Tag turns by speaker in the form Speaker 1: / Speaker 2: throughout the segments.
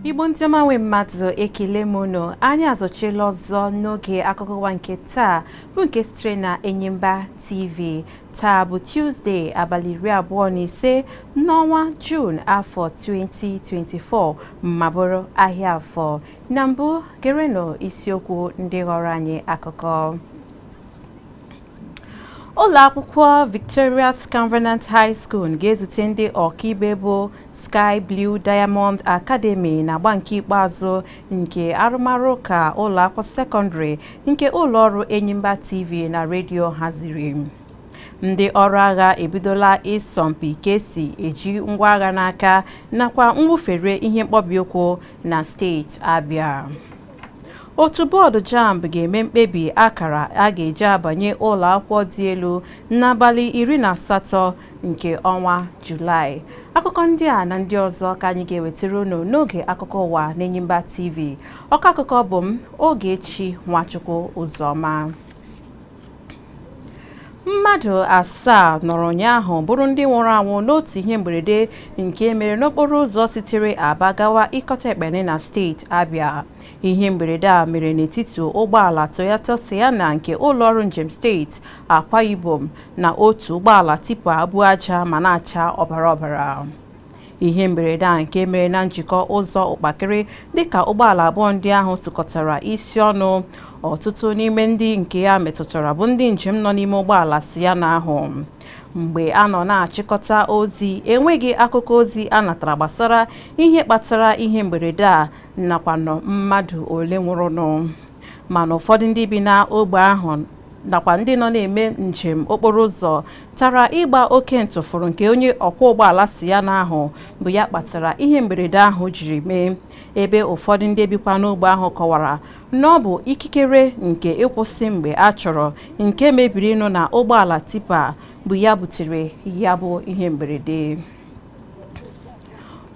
Speaker 1: Igbo ndị ọma nwe mmadụ ekele m unu anyị azọchiela ọzọ n'oge akụkọ ụwa nke taa bụ nke sitere na Enyimba TV taa bụ Tuesday abalị iri abụọ na ise N'ọnwa Juun afọ 2024 ma bụrụ ahịa Afọ na mbụ gerenụ isiokwu ndị ghọrọ anyị akụkọ. Ụlọ akwụkwọ Victorious Covenant High School ga-ezute ndị ọkaibe bụ Sky Blue Diamond Academy n'agba nke ikpeazụ nke arụmarụ ụka ụlọ akwụkwọ sekọndịrị nke ụlọ ọrụ Enyimba TV na redio haziri. ndị ọrụ agha ebidola ịsọmpi ka e si eji ngwa agha n'aka nakwa mwụfere ihe mkpọbi ụkwụ na steeti Abia otu bọọdụ jamb ga-eme mkpebi akara a ga-eji abanye ụlọ akwụkwọ dị elu n'abalị iri na asatọ nke ọnwa julaị akụkọ ndị a na ndị ọzọ ka anyị ga-ewetara unu n'oge akụkọ ụwa n'Enyimba TV ọkọ akụkọ bụ m Ogechi Nwachukwu Ụzọma mmadụ asaa nọrọ ụnyaahụ bụrụ ndị nwụrụ anwụ n'otu ihe mberede nke mere n'okporo ụzọ sitere aba gawa ikot ekpene na steeti abịa ihe mberede a mere n'etiti ụgbọala toyota sienna nke ụlọọrụ njem steeti akwa ibom na otu ụgbọala tipa bu aja ma na-acha ọbara ọbara ihe mberede a nke mere na njikọ ụzọ ụkpakịrị dịka ụgbọala abụọ ndị ahụ sụkọtara isi ọnụ ọtụtụ n'ime ndị nke ya metụtara bụ ndị njem nọ n'ime ụgbọala sienna ahụ mgbe a nọ na-achịkọta ozi enweghị akụkọ ozi a natara gbasara ihe kpatara ihe mberede a nakwanụ mmadụ ole nwụrụnụ mana ụfọdụ ndị bi na ogbe ahụ nakwa ndị nọ na-eme njem okporo ụzọ tara ịgba oke ntụfụrụ nke onye ọkwọ ụgbọala sienna ahụ bụ ya kpatara ihe mberede ahụ jiri mee ebe ụfọdụ ndị bikwa n'ogbe ahụ kọwara na ọ bụ ikikere nke ịkwụsị mgbe a chọrọ nke mebirinụ na ụgbọala tipa bụ ya butere ya bụ ihe mberede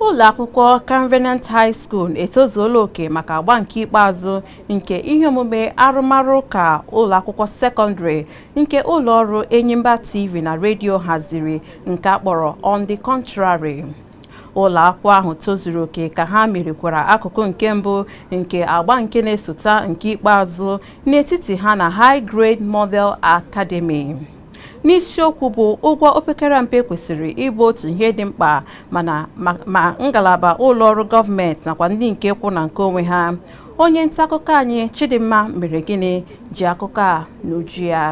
Speaker 1: ụlọ akwụkwọ Covenant High School etozuola oke maka agba nke ikpeazụ nke ihe omume arụmarụ ụka ụlọ akwụkwọ sekọndịrị nke ụlọ ọrụ Enyimba TV na redio haziri nke a kpọrọ On the Contrary ụlọ akwụkwọ ahụ tozuru oke ka ha merikwara akụkụ nke mbụ nke agba nke na-esota nke ikpeazụ n'etiti ha na High Grade Model Academy n'isiokwu bụ ụgwọ opekara mpe kwesịrị ịbụ otu ihe dị mkpa ma ngalaba ụlọ ọrụ gọọmenti nakwa ndị nke kwụ na nke onwe ha onye nta akụkọ anyị Chidimma Meregịnị ji akụkọ a n'uju ya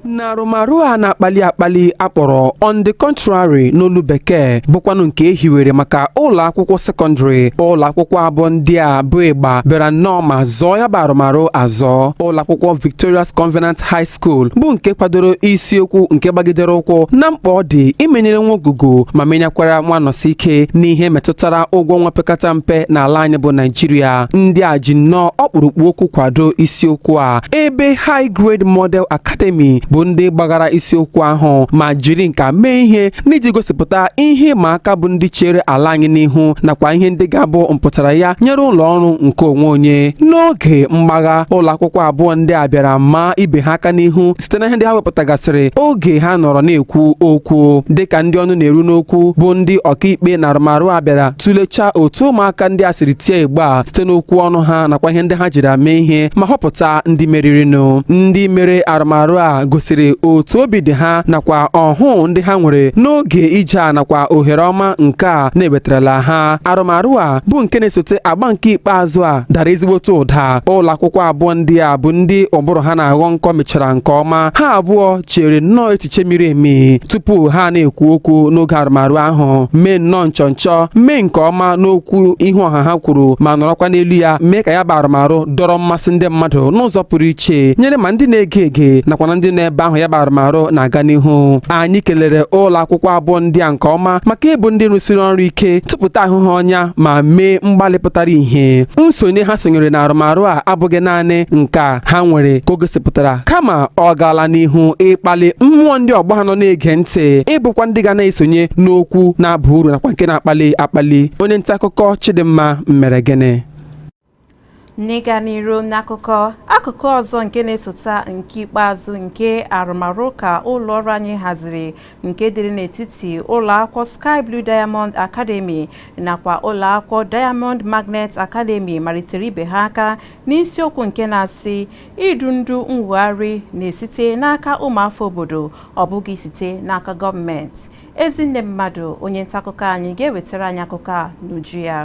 Speaker 2: n'arụmarụ a na-akpali akpali a kpọrọ on the contrary n'olu bekee bụkwanụ nke e hiwere maka ụlọ akwụkwọ sekọndịrị ụlọ akwụkwọ abụọ ndị a bụ ịgba bịara nnọọ ma zọọ ya bụ arụmarụ azọ ụlọ akwụkwọ victorious covenant high School bụ nke kwadoro isiokwu nke gbagidere ụkwụ na mkpa ọ dị imenyere nwa Ogwugwu ma menyekwara nwa Anọsike n'ihe metụtara ụgwọ ọnwa opekata mpe n'ala anyị bụ Naijiria ndị a ji nnọọ ọkpụrụkpụ okwu kwado isiokwu a ebe High Grade Model Academy bụ ndị gbaghara isiokwu ahụ ma jiri nka mee ihe n'iji gosipụta ihe ịma aka bụ ndị chere ala anyị n'ihu nakwa ihe ndị ga-abụ mpụtara ya nyere ụlọ ọrụ nke onwe onye n'oge mgbagha ụlọ akwụkwọ abụọ ndị a bịara maa ibe ha aka n'ihu site na ihe ndị ha wepụtagasịrị oge ha nọrọ na-ekwu okwu dịka ndị ọnụ na-eru n'okwu bụ ndị ọkaikpe na arụmarụ a bịara tụlechaa otu ụmụaka ndị a siri tie igbe a site n'okwu ọnụ ha nakwa ihe ndị ha jiri mee ihe ma họpụta ndị meririnụ ndị mere arụmarụ a gosiri otu obi dị ha nakwa ọhụụ ndị ha nwere n'oge ije a nakwa ohere ọma nke a na-ewetarala ha arụmarụ a bụ nke na-esote agba nke ikpeazụ a dara ezigbote ụda ụlọ akwụkwọ abụọ ndị a bụ ndị ụbụrụ ha na-aghọ nkọ mechara nke ọma ha abụọ chere nnọọ echiche miri emi tupu ha na-ekwu okwu n'oge arụmarụ ahụ mee nnọọ nchọnchọ mee nke ọma n'okwu ihu ọha ha kwuru ma nọrọkwa n'elu ya mee ka ya bụ arụmarụ dọrọ mmasị ndị mmadụ n'ụzọ pụrụ iche nyere ma ndị na-ege ege nakwa na ndị n'ebe ahụ ya bụ arụmarụ na-aga n'ihu anyị kelere ụlọ akwụkwọ abụọ ndị a nke ọma maka ịbụ ndị rụsiri ọrụ ike tụpụta ahụ ha ọnya ma mee mgbalị pụtara ihe nsonye ha sonyere na arụmarụ a abụghị naanị nka ha nwere ka o gosipụtara kama ọ gaala n'ihu ịkpali mmụọ ndị ọgbọ ha nọ na-ege ntị ịbụkwa ndị ga na-esonye n'okwu na-aba uru nakwa nke na-akpali akpali onye nta akụkọ Chidimma Meregịnị
Speaker 1: n'ịga n'iru n'akụkọ akụkụ ọzọ nke na-esota nke ikpeazụ nke arụmarụ ụka ụlọ ọrụ anyị haziri nke dịrị n'etiti ụlọ akwụkwọ Sky Blue Diamond Academy nakwa ụlọ akwụkwọ Diamond Magnet Academy marịtara ibe ha aka n'isiokwu nke na-asị idu ndu nwogharị na-esite n'aka ụmụafọ obodo ọ bụghị site n'aka gọọmenti Ezinne Mmadụ onye ntakụkọ anyị ga-ewetara anyị akụkọ a n'uju ya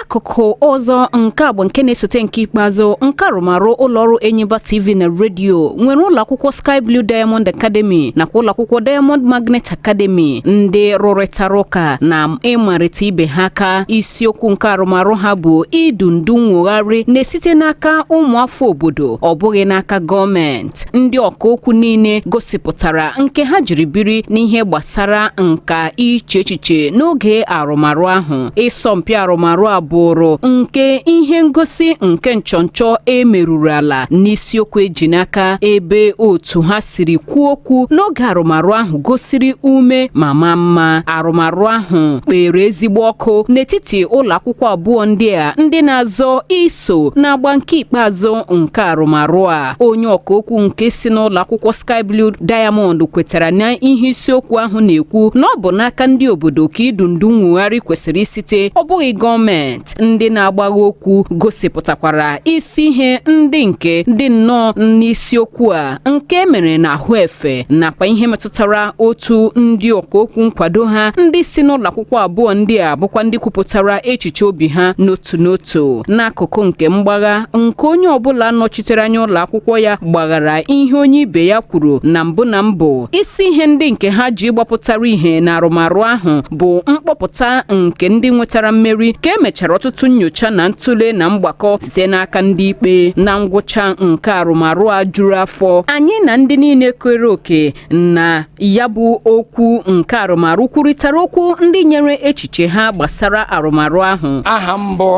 Speaker 3: akụkụ ọzọ nke agba nke na-esote nke ikpeazụ nke arụmarụ ụlọọrụ Enyimba TV na redio nwere ụlọakwụkwọ Sky Blue Diamond Academy nakwa ụlọakwụkwọ Diamond Magnet Academy ndị rụrịtara ụka na ịmarịta ibe ha aka isiokwu nke arụmarụ ha bụ idu ndu nwogharị na-esite n'aka ụmụafọ obodo ọ bụghị n'aka gọọmenti ndị ọka okwu niile gosipụtara nke ha jiri biri n'ihe gbasara nka iche echiche n'oge arụmarụ ahụ ịsọmpi arụmarụ a bụrụ nke ihe ngosi nke nchọnchọ emeruru ala n'isiokwu eji n'aka ebe otu ha siri kwuo okwu n'oge arụmarụ ahụ gosiri ume ma maa mma arụmarụ ahụ kpere ezigbo ọkụ n'etiti ụlọ akwụkwọ abụọ ndị a ndị na-azọ iso so n'agba nke ikpeazụ nke arụmarụ a onye ọka okwu nke si n'ụlọ akwụkwọ Sky Blue Diamond kwetara na ihe isiokwu ahụ na-ekwu na ọ bụ n'aka ndị obodo ka idu ndu nwugharị kwesịrị isite ọ bụghị gọọmenti ndị na-agbagha okwu gosipụtakwara isi ihe ndị nke dị nnọọ n'isiokwu a nke e mere na ahụ efe nakwa ihe metụtara tara otu ndị ọka okwu nkwado ha ndị si n'ụlọ akwụkwọ abụọ ndị a bụkwa ndị kwupụtara echiche obi ha n'otu n'otu n'akụkụ nke mgbagha nke onye ọbụla nọchitere anya ụlọ akwụkwọ ya gbaghara ihe onye ibe ya kwuru na mbụ na mbụ isi ihe ndị nke ha ji gbapụtara ihe na arụmarụ ahụ bụ mkpọpụta nke ndị nwetara mmeri ka emechara ọtụtụ nnyocha na ntụle na mgbakọ site n'aka ndị ikpe na ngwụcha nke arụmarụ a juru afọ anyị na ndị niile kere oke na ya bụ okwu nke arụmarụ kwurịtara okwu ndị nyere echiche ha gbasara arụmarụ ahụ aha m
Speaker 4: bụ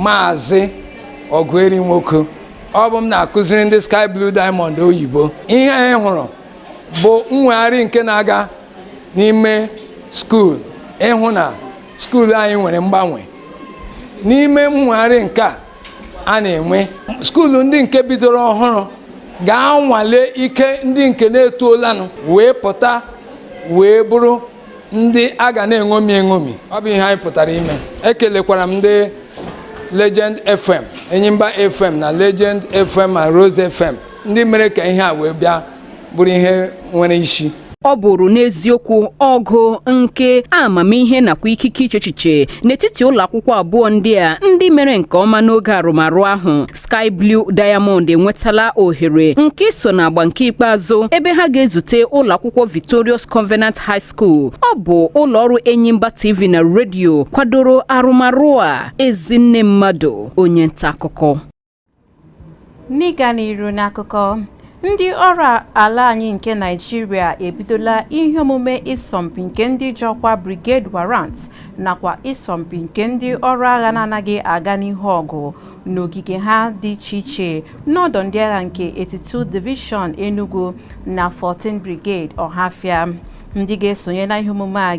Speaker 4: maazị Ọgụeri Nwoke ọ bụ m na-akụziri ndị sky blue diamond oyibo ihe anyị hụrụ bụ mwegharị nke na-aga n'ime skuul ịhụ na skuulu anyị nwere mgbanwe n'ime mwegharị nke a a na-enwe skuulu ndị nke bidoro ọhụrụ ga-anwale ike ndị nke na-etuolanụ wee pụta wee bụrụ ndị a ga na-eṅomi eṅomi ọ bụ ihe anyị pụtara ime ekelekwara m ndị Legend FM Enyimba FM na Legend FM ma Rose FM ndị mere ka ihe a wee bịa bụrụ ihe nwere isi ọ
Speaker 3: bụrụ n'eziokwu ọgụ nke amamihe nakwa ikike iche echiche n'etiti ụlọ akwụkwọ abụọ ndị a ndị mere nke ọma n'oge arụmarụ ahụ Sky Blue Diamond enwetala ohere nke iso n'agba nke ikpeazụ ebe ha ga-ezute ụlọ akwụkwọ Victorious Covenant High School ọ bụ ụlọ ọrụ Enyimba TV na redio kwadoro arụmarụ a Ezinne Mmadụ onye nta akụkọ
Speaker 1: N'ịga n'iru n'akụkọ ndị ọrụ ala anyị nke Naịjirịa ebidola ihe omume ịsọmpi nke ndị ji ọkwa Brigade Warrant nakwa ịsọmpi nke ndị ọrụ agha na-anaghị aga n'ihu ọgụ n'ogige ha dị iche iche n'ọdọ ndị agha nke 82 Division Enugu na 14 Brigade Ọhafịa ndị ga-esonye na ihe omume a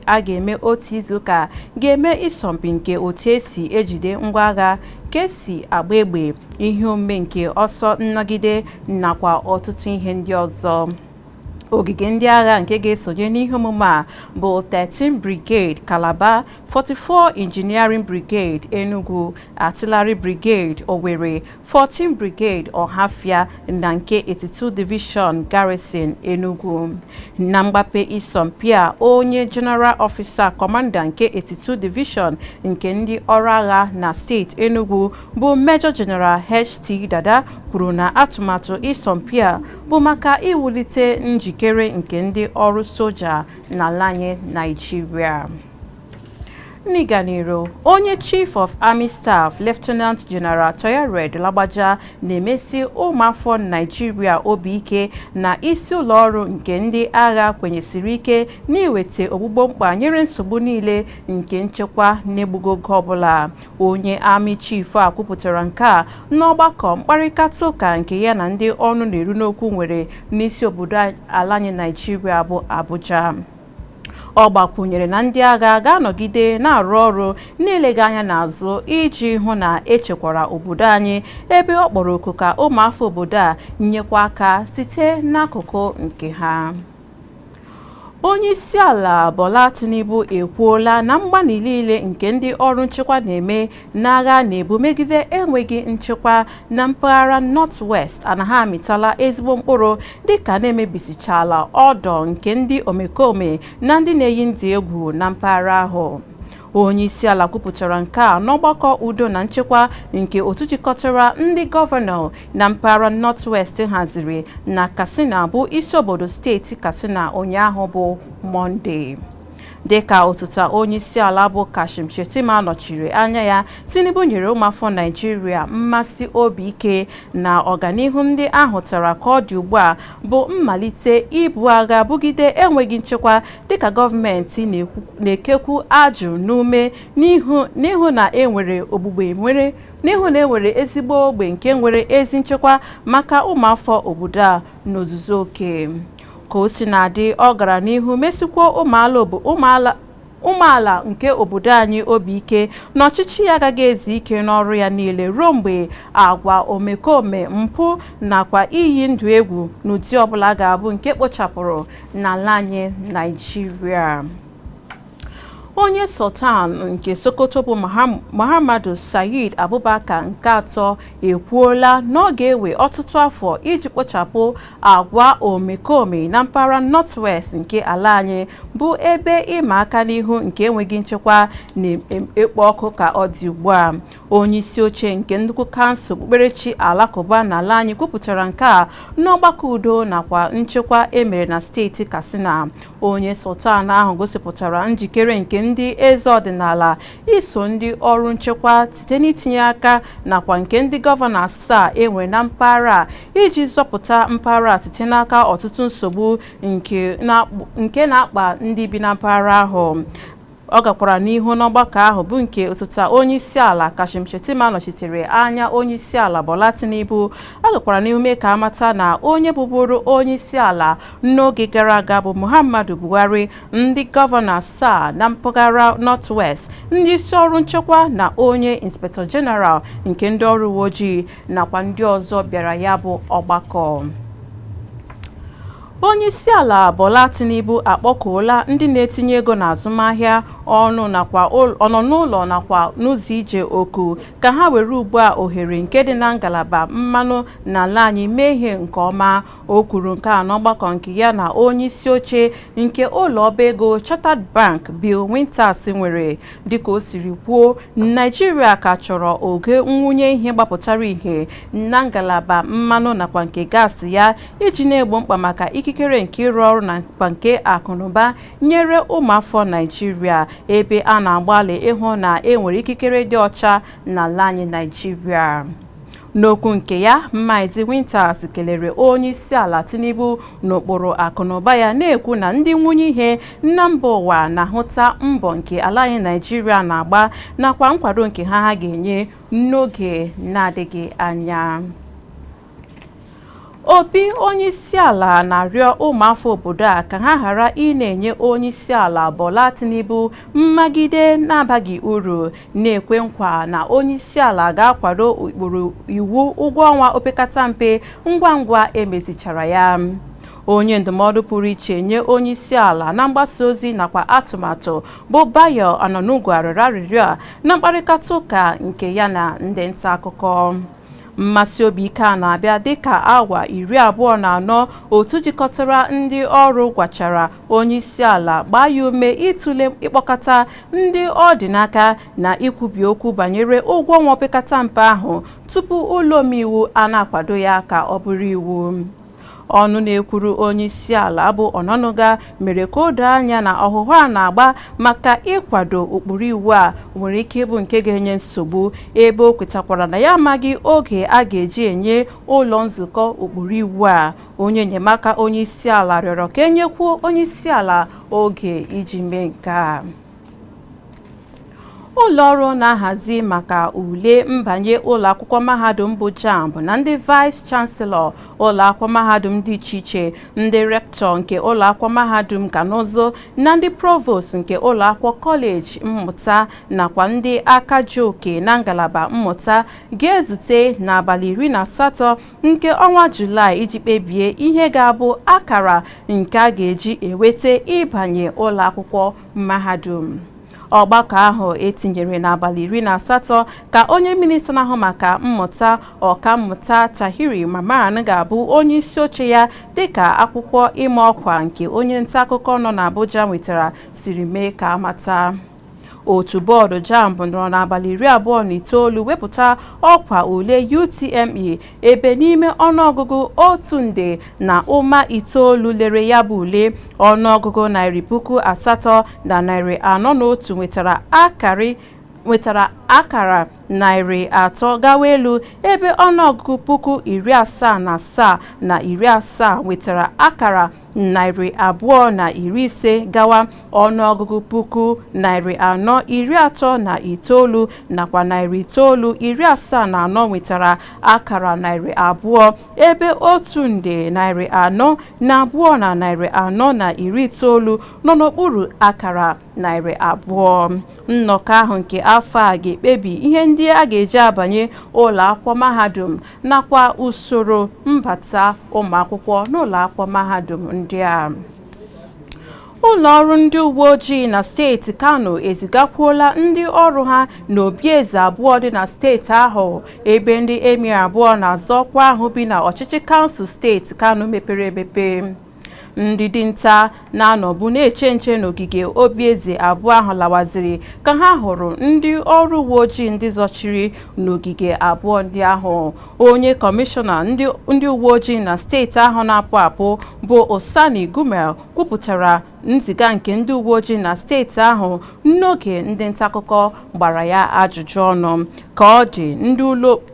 Speaker 1: a ga-eme otu izuụka ga-eme ịsọmpi nke otu esi ejide ngwa agha ka esi agba egbe ihe omume nke ọsọ nnọgide nakwa ọtụtụ ihe ndị ọzọ ogige ndị agha nke ga-esonye n'ihe omume a bụ 13 Brigade Calabar 44 Engineering Brigade Enugu Artillery Brigade Owerri 14 Brigade Ohafia na nke 82 Division Garrison Enugu na mgbape isọmpi a onye General Officer Commander nke 82 Division nke ndị ọrụ agha na steeti Enugu bụ Major General HT Dada kwuru na atụmatụ isọmpi a bụ maka iwulite njikere nke ndị ọrụ soja n'ala anyị Naịjirịa N'ịga n'iru, onye Chief of Army Staff Lieutenant General Taoreed Lagbaja na-emesi ụmụafọ Naijiria obi ike na isi ụlọọrụ nke ndị agha kwenyesiri ike n'iweta ogbugbo mkpa nyere nsogbu niile nke nchekwa n'egbughị oge ọbụla. Onye Army Chief a kwupụtara nke a n'ọgbakọ mkparịkata ụka nke ya na ndị ọnụ na-eru n'okwu nwere n'isi obodo ala anyị Naijiria bụ Abuja. Ọ gbakwunyere na ndị agha ga-anọgide na-arụ ọrụ n'eleghị anya n'azụ iji hụ na echekwara obodo anyị ebe ọ kpọrọ oku ka ụmụafọ obodo a nyekwa aka site n'akụkụ nke ha. Onye isi ala Bola Tinubu ekwuola na mgbalị niile nke ndị ọrụ nchekwa na-eme n'agha a na-ebu megide enweghị nchekwa na mpaghara North-West anaghị amịtala ezigbo mkpụrụ dịka na emebisichala ọdọ nke ndị omekome na ndị na-eyi ndụ egwu na mpaghara ahụ onyeisiala kwupụtara nke a n'ọgbakọ udo na nchekwa nke otu jikọtara ndị gọvanọ na mpaghara North-West haziri na Katsina bụ isi obodo steeti Katsina ụnyaahụ bụ Mọnde Dịka osote onyeisiala bụ Kashim Shettima nọchiri anya ya, Tinubu nyere ụmụafọ Naịjirịa mmesi obi ike na ọganihu ndị a hụtara ka ọ dị ugbu a bụ mmalite ibu agha bugide enweghị nchekwa dịka gọọmenti na-ekekwu ajị n'ume n'ịhụ na enwere ezigbo ogbe nke nwere ezi nchekwa maka ụmụafọ obodo a n'ozuzu oke. Ka o si na-adị, ọ gara n'ihu mesikwuo ụmụala obo ụmụala nke obodo anyị obi ike na ọchịchị ya agaghị ezu ike n'ọrụ ya niile ruo mgbe agwa omekome, mpụ nakwa iyi ndụ egwu n'ụdị ọbụla ga-abụ nke ekpochapụrụ n'ala anyị Naịjirịa. onye sultan nke sokoto bụ muhammadu sayid abubakar nke atọ ekwuola na ọ ga-ewe ọtụtụ afọ iji kpochapụ agwa omekome na mpaghara northwest nke ala anyị bụ ebe ịma aka n'ihu nke enweghị nchekwa na-ekpo ọkụ ka ọ dị ugbu a onye isi oche nke nnukwu kansụl okpukperechi alakụba n'ala anyị kwupụtara nke a n'ọgbakọ udo nakwa nchekwa emere na steeti katsina onye sultan ahụ gosipụtara njikere nke ndị eze ọdịnala iso ndị ọrụ nchekwa site n'itinye aka nakwa nke ndị gọvanọ asaa enwere na mpaghara a iji zọpụta mpaghara a site n'aka ọtụtụ nsogbu nke na-akpa ndị bi na mpaghara ahụ Ọ gakwara n'ihu n'ọgbakọ ahụ bụ nke osote onyeisiala Kashim Shettima nọchitere anya onyeisiala Bola Tinubu. Ọ gakwara n'ihu mee ka amata na onye bụburu onyeisiala n'oge gara aga bụ Muhammadu Buhari, ndị gọvanọ asaa na mpaghara North West, ndị isi ọrụ nchekwa na onye Inspector General nke ndị ọrụ uweojii nakwa ndị ọzọ bịara ya bụ ọgbakọ. Onyeisiala Bola Tinubu akpọkuola ndị na-etinye ego n'azụmahịa, ọnọ n'ụlọ nakwa n'ụzọ ije oku ka ha were ugbu a ohere nke dị na ngalaba mmanụ n'ala anyị mee ihe nke ọma. O kwuru nke a n'ọgbakọ nke ya na onyeisi oche nke ụlọ ọba ego Chartered Bank Bill Winters nwere. Dịka o siri kwuo, Naịjirịa ka chọrọ ogo mwunye ihe gbapụtara ihe na ngalaba mmanụ nakwa nke gaasị ya iji na-egbo mkpa maka ikikere nke ịrụ ọrụ nakwa nke akụnụba nyere ụmụafọ Naijiria ebe a na-agbalị ịhụ na e nwere ikikere dị ọcha n'ala anyị Naijiria n'okwu nke ya Maazị Winters kelere onye isi ala Tinubu n'ụkpụrụ akụnụba ya na-ekwu na ndị nwunye ihe na mba ụwa na-ahụta mbọ nke ala anyị Naijiria na-agba nakwa nkwado nke ha ha ga-enye n'oge na-adịghị anya Obi onyeisiala na-arịọ ụmụafọ obodo a ka ha ghara ị na-enye onyeisiala Bola Tinubu mmagide na-abaghị uru na-ekwe nkwa na onyeisiala ga-akwado ụkpụrụ iwu ụgwọ ọnwa opekata mpe ngwa ngwa emezichara ya. onye ndụmọdụ pụrụ iche nye onye isi ala na mgbasa ozi nakwa atụmatụ bụ Bayo Onanuga rịọrọ arịrịọ a na mkparịta ụka nke ya na ndị nta akụkọ Mmasi obi ike a na-abịa dịka awa iri abụọ na anọ otu jikọtara ndị ọrụ gwachara onyeisiala gbaa ya ume ịtụle ịkpọkọta ndị ọ dị n'aka na ikwubi okwu banyere ụgwọ ọnwa opekata mpe ahụ tupu ụlọ omeiwu a na-akwado ya ka ọ bụrụ iwu. Ọnụ na-ekwuru onyeisiala bụ Onanuga mere ka o doo anya na ọhụhụ a na-agba maka ịkwado ụkpụrụ iwu a nwere ike ịbụ nke ga-enye nsogbu ebe o kwetakwara na ya amaghị oge a ga-eji enye ụlọ nzukọ ụkpụrụ iwu a. Onye enyemaka onyeisiala rịọrọ ka e nyekwuo onyeisiala oge iji mee nke a. ụlọ ọrụ na-ahazi maka ule mbanye ụlọ akwụkwọ mahadum bụ jamb na ndị vice chancellor ụlọ akwụkwọ mahadum dị iche iche ndị rector nke ụlọ akwụkwọ mahadum nka na ụzụ na ndị provost nke ụlọ akwụkwọ kọleji mmụta nakwa ndị aka ji oke na ngalaba mmụta ga-ezute n'abalị iri na asatọ nke ọnwa julaị iji kpebie ihe ga-abụ akara nke a ga-eji eweta ịbanye ụlọ akwụkwọ mahadum ọgbakọ ahụ e tinyere n'abalị iri na asatọ ka onye minista na-ahụ maka mmụta ọkammụta Tahir Mamman ga-abụ onye isi oche ya dịka akwụkwọ ịma ọkwa nke onye nta akụkọ nọ n'Abuja nwetara siri mee ka a mata otu bọọdụ jamb nọrọ n'abalị iri abụọ na itoolu wepụta ọkwa ule UTME ebe n'ime ọnụọgụgụ otu nde na ụma itoolu lere ya bụ ule ọnụọgụgụ narị puku asatọ na narị anọ na otu nwetara akara narị atọ gawa elu ebe ọnụọgụgụ puku iri asaa na asaa na iri asaa nwetara akara narị abụọ na iri ise gawa ọnụọgụgụ puku narị anọ iri atọ na itoolu nakwa narị itoolu iri asaa na anọ nwetara akara narị abụọ ebe otu nde narị anọ na abụọ na narị anọ na iri itoolu nọ n'okpuru akara narị abụọ nnọkọ ahụ nke afọ a ga-ekpebi ihe ndị a ga-eji abanye ụlọ akwụkwọ mahadum nakwa usoro mbata ụmụakwụkwọ n'ụlọakwụkwọ mahadum ndị a ụlọ ọrụ ndị uwe ojii na steeti kano ezigakwuola ndị ọrụ ha n'obi eze abụọ dị na steeti ahụ ebe ndị emir abụọ na-azọ ọkwa ahụ bi na ọchịchị kansụl steeti kano mepere emepe ndị dinta na-anọbu na-eche nche n'ogige obi eze abụọ ahụ lawaziri ka ha hụrụ ndị ọrụ uwe ojii ndị zọchiri n'ogige abụọ ndị ahụ onye kọmishọna ndị uwe ojii na steeti ahụ na-apụ apụ bụ Usaini Gumel kwupụtara nziga nke ndị uwe ojii na steeti ahụ n'oge ndị ntakụkọ gbara ya ajụjụ ọnụ ka ọ dị ndị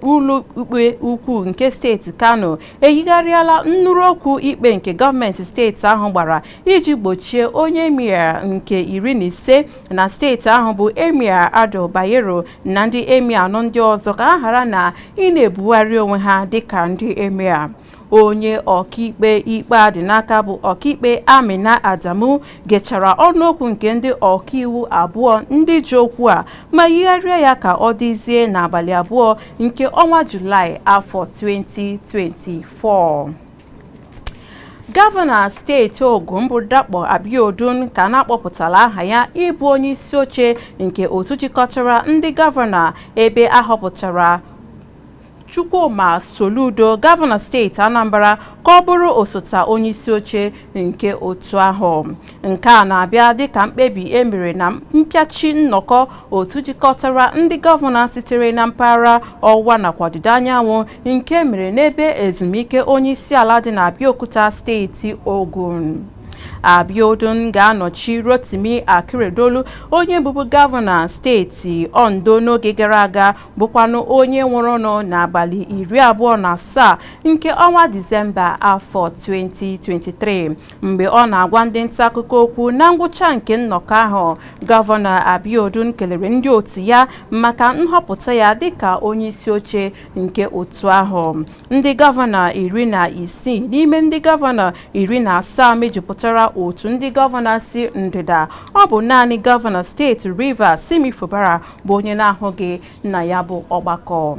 Speaker 1: ụlọikpe ukwu nke steeti Kano eyigharịala nnụrụ okwu ikpe nke gọọmenti steeti ahụ gbara iji gbochie onye emir nke iri na ise na steeti ahụ bụ emir Ado Bayero na ndị emir anọ ndị ọzọ ka ha ghara na ị na-ebugharị onwe ha dịka ndị emir onye ọkaikpe ikpe a dị n'aka bụ ọkaikpe Amina Adamu gechara ọnụokwu nke ndị ọkaiwu abụọ ndị ji okwu a ma yigharịa ya ka ọ dịzie n'abalị abụọ nke ọnwa Julaị afọ 2024. Gọvanọ steeti Ogun bụ Dapo Abiodun ka na-akpọpụtala aha ya ịbụ onye isi oche nke otu jikọtara ndị gọvanọ ebe a họpụtara Chukwuma Soludo gọvanọ steeti Anambra ka ọ bụrụ osote onyeisi oche nke otu ahụ nke a na-abịa dịka mkpebi e mere na mpịachi nnọkọ otu jikọtara ndị gọvanọ sitere na mpaghara ọwụwa nakwa ọdịda anyanwụ nke mere n'ebe ezumike onyeisiala dị na Abeokuta steeti Ogun Abiodun ga-anọchi Rotimi Akeredolu onye bụbu gọvanọ steeti Ondo n'oge gara aga bụkwanụ onye nwụrụnụ n'abalị iri abụọ na asaa nke ọnwa disemba afọ 2023 mgbe ọ na-agwa ndị nta akụkọ okwu na ngwụcha nke nnọkọ ahụ gọvanọ abiodun kelere ndị otu ya maka nhọpụta ya dịka onye isi oche nke otu ahụ ndị gọvanọ iri na isii n'ime ndị gọvanọ iri na asaa mejupụtara otu ndị gọvanọ si ndịda ọ bụ naanị gọvanọ steeti rivers simi fubara bụ onye na-ahụghị na ya bụ ọgbakọ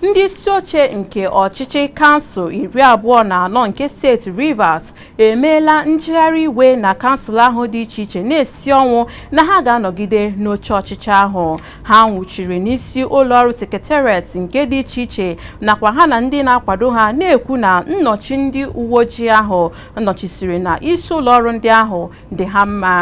Speaker 1: ndị isi oche nke ọchịchị kansụl iri abụọ na anọ nke steeti Rivers emeela njegharị iwe na kansụl ahụ dị iche iche na-esi ọnwụ na ha ga-anọgide n'oche ọchịchị ahụ ha nwụchiri n'isi ụlọọrụ sekretariat nke dị iche iche nakwa ha na ndị na-akwado ha na-ekwu na nnọchi ndị uwe ojii ahụ nnọchisiri na isi ụlọọrụ ndị ahụ dị ha mma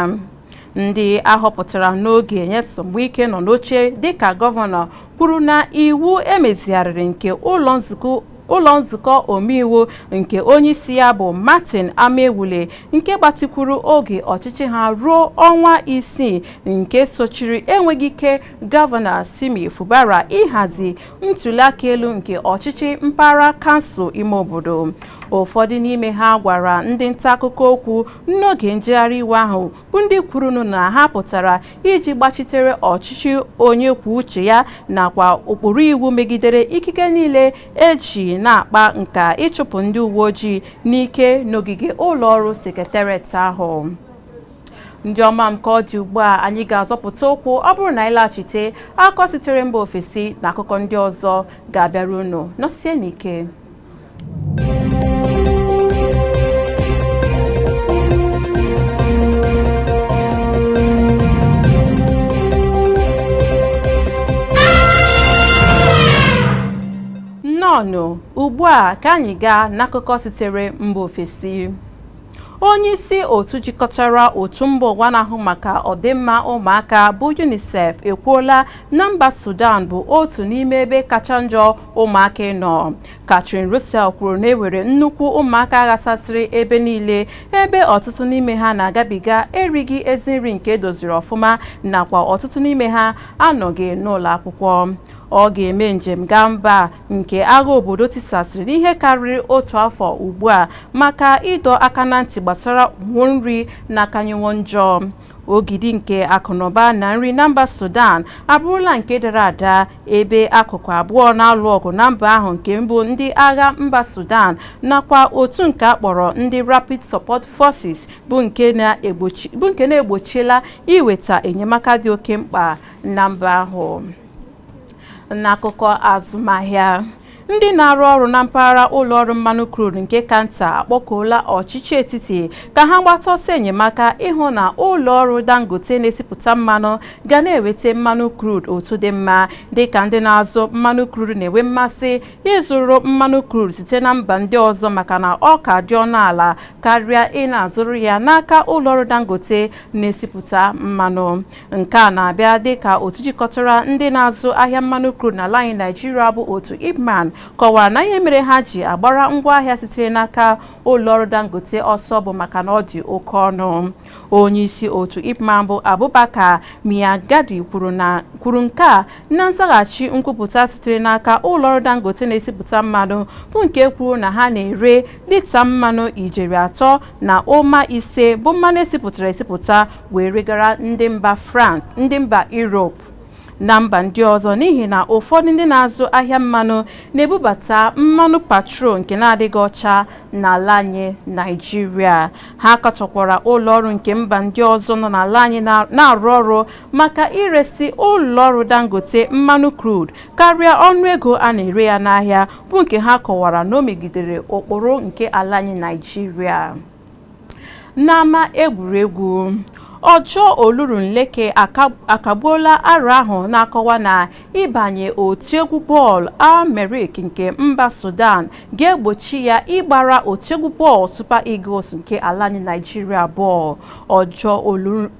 Speaker 1: ndị ahọpụtara n'oge Nyesom Wike nọ n'oche dịka gọvanọ kwuru na iwu emezigharịrị nke ụlọ nzukọ ụlọ nzukọ omeiwu nke onyeisi ya bụ Martin Amaewhule nke gbatikwuru oge ọchịchị ha ruo ọnwa isii nke sochiri enweghị ike gọvanọ Simi Fubara ịhazi ntuliaka elu nke ọchịchị mpaghara kansụl ime obodo ụfọdụ n'ime ha gwara ndị nta akụkọ okwu n'oge njegharị iwe ahụ bụ ndị kwurunu na ha pụtara iji gbachitere ọchịchị onye kwuo uche ya nakwa ụkpụrụ iwu megidere ikike niile eji na-akpa nka ịchụpụ ndị uwe ojii n'ike n'ogige ụlọ ọrụ sekretariat ahụ ndị ọma m ka ọ dị ugbu a anyị ga-azọpụta ụkwụ ọ bụrụ na anyị laghachite akụkọ sitere mba ofesi na akụkọ ndị ọzọ ga-abịara unu nọsie n'ike nnọọnụ ugbu a ka anyị gaa n'akụkọ sitere mba ofesi Onyeisi otu jikọtara otu mba ụwa na-ahụ maka ọdịmma ụmụaka bụ UNICEF ekwuola na mba Sudan bụ otu n'ime ebe kacha njọ ụmụaka ịnọ. Catherine Russell kwuru na e nwere nnukwu ụmụaka ghasasịrị ebe niile ebe ọtụtụ n'ime ha na-agabiga erighị ezi nri nke edoziri ọfụma nakwa ọtụtụ n'ime ha anọghị n'ụlọ akwụkwọ. Ọ ga-eme njem gaa mba nke agha obodo tisasịrị n'ihe karịrị otu afọ ugbu a maka ịdọ aka na ntị gbasara ụnwụ nri na-akanyewo njọ ogidi nke akụnụba na nri na mba sudan abụrụla nke dara ada ebe akụkụ abụọ na-alụ ọgụ na mba ahụ nke mbụ ndị agha mba sudan nakwa otu nke a kpọrọ ndị rapid support forces bụ nke na-egbochiela iweta enyemaka dị oke mkpa na mba ahụ n'akụkọ azụmahịa ndị na-arụ ọrụ na mpaghara ụlọ ọrụ mmanụ crude nke ka nta akpọkuola ọchịchị etiti ka ha gbata ọsọ enyemaka ịhụ na ụlọ ọrụ dangote na-esipụta mmanụ ga na-enweta mmanụ crude otu dị mma dịka ndị na-azụ mmanụ crude na-enwe mmasị ịzụrụ mmanụ crude site na mba ndị ọzọ maka na ọ ka dị ọnụ ala karịa ị na-azụrụ ya n'aka ụlọ ọrụ dangote na-esipụta mmanụ Nke a na-abịa dịka otu jikọtara ndị na-azụ ahịa mmanụ crude n'ala anyị Naịjirịa bụ otu IPMAN kọwara na ihe mere ha ji agbara ngwaahịa sitere n'aka ụlọọrụ Dangote ọsọ bụ maka na ọ dị oke ọnụ. Onyeisi otu IPMAN bụ Abubakar Maigandi kwuru nke a na nzaghachi nkwupụta sitere n'aka ụlọọrụ Dangote na-esipụta mmanụ bụ nke kwuru na ha na-ere lita mmanụ ijeri atọ na ụma ise bụ mmanụ esipụtara esipụta wee regara ndị mba France ndị mba Europe na mba ndị ọzọ n'ihi na ụfọdụ ndị na-azụ ahịa mmanụ na-ebubata mmanụ petrol nke na-adịghị ọcha n'ala anyị Naịjirịa ha katọkwara ụlọọrụ nke mba ndị ọzọ nọ n'ala anyị na-arụ ọrụ maka iresi ụlọọrụ Dangote mmanụ crude karịa ọnụego a na-ere ya n'ahịa bụ nke ha kọwara na o megidere ụkpụrụ nke ala anyị Naịjirịa n'ama egwuregwu ojo olorunleke akagbuola aro ahụ na-akọwa na ịbanye otu egwu bọọlụ al-merrikh nke mba sudan ga-egbochi ya ịgbara otu egwu bọọlụ super eagles nke ala anyị naijiria bọọlụ ojo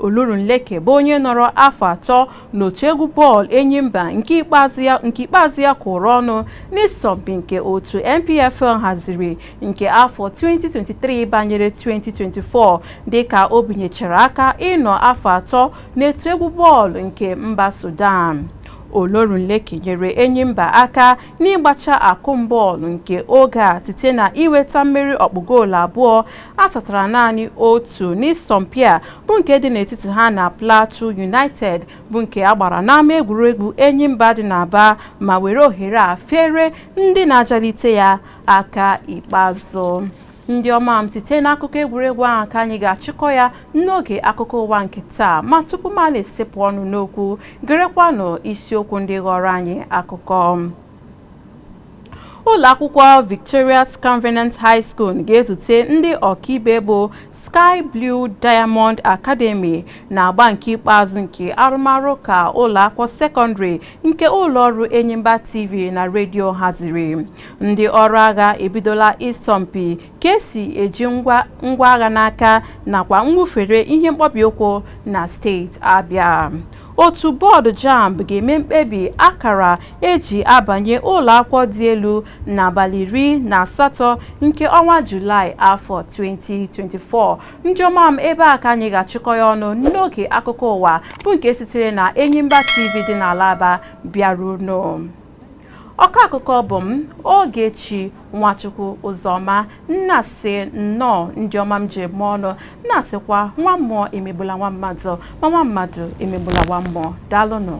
Speaker 1: olorunleke bụ onye nọrọ afọ atọ n'otu egwu bọọlụ enyimba nke ikpeazụ ya kwụrụ ọnụ n'ịsọmpi nke otu npfl haziri nke afọ 2023 banyere 2024 dịka o binyechara aka ịnọ afọ atọ n'otu egwu bọọlụ nke mba Sudan. Olorunleke nyere Enyimba aka n'ịgbacha akụm bọọlụ nke oge a site na iweta mmeri ọkpụ goolu abụọ asatara naanị otu n'ịsọmpi a bụ nke dị n'etiti ha na Plateau United bụ nke a gbara n'ama egwuregwu Enyimba dị n'Aba ma were ohere a fere ndị na-ajalite ya aka ikpeazụ ndị ọma m site n'akụkọ egwuregwu ahụ ka anyị ga-achịkọ ya n'oge akụkọ ụwa nke taa ma tupu m ana-esepụ ọnụ n'okwu gerekwanụ isiokwu ndị ghọrọ anyị akụkọ ụlọ akwụkwọ victorious covenant high school ga-ezute ndị ọkaibe bụ sky blue diamond academy n'agba nke ikpeazụ nke arụmarụ ụka ụlọ akwụkwọ sekọndịrị nke ụlọ ọrụ enyimba tv na redio haziri Ndị ọrụ agha ebidola ịsọmpi ka esi eji ngwa agha n'aka nakwa mwụfere ihe mkpọbi ụkwụ na steeti Abịa. Otu bọọdụ JAMB ga-eme mkpebi akara eji abanye ụlọakwụkwọ dị elu n'abalị iri na asatọ nke ọnwa Julaị afọ 2024. Ndị ọma m ebe a ka anyị ga-achịkọ ya ọnụ n'oge akụkọ ụwa bụ nke sitere na Enyimba TV dị n'ala Aba bịara unu. ọkọ akụkọ bụ m Ogechi Nwachukwu Ụzọma m na-asị nnọọ ndị ọma m ji eme ọnụ m na-asịkwa nwa mmụọ emegbula nwa mmadụ ma nwa mmadụ emegbula nwa mmụọ daalụnụ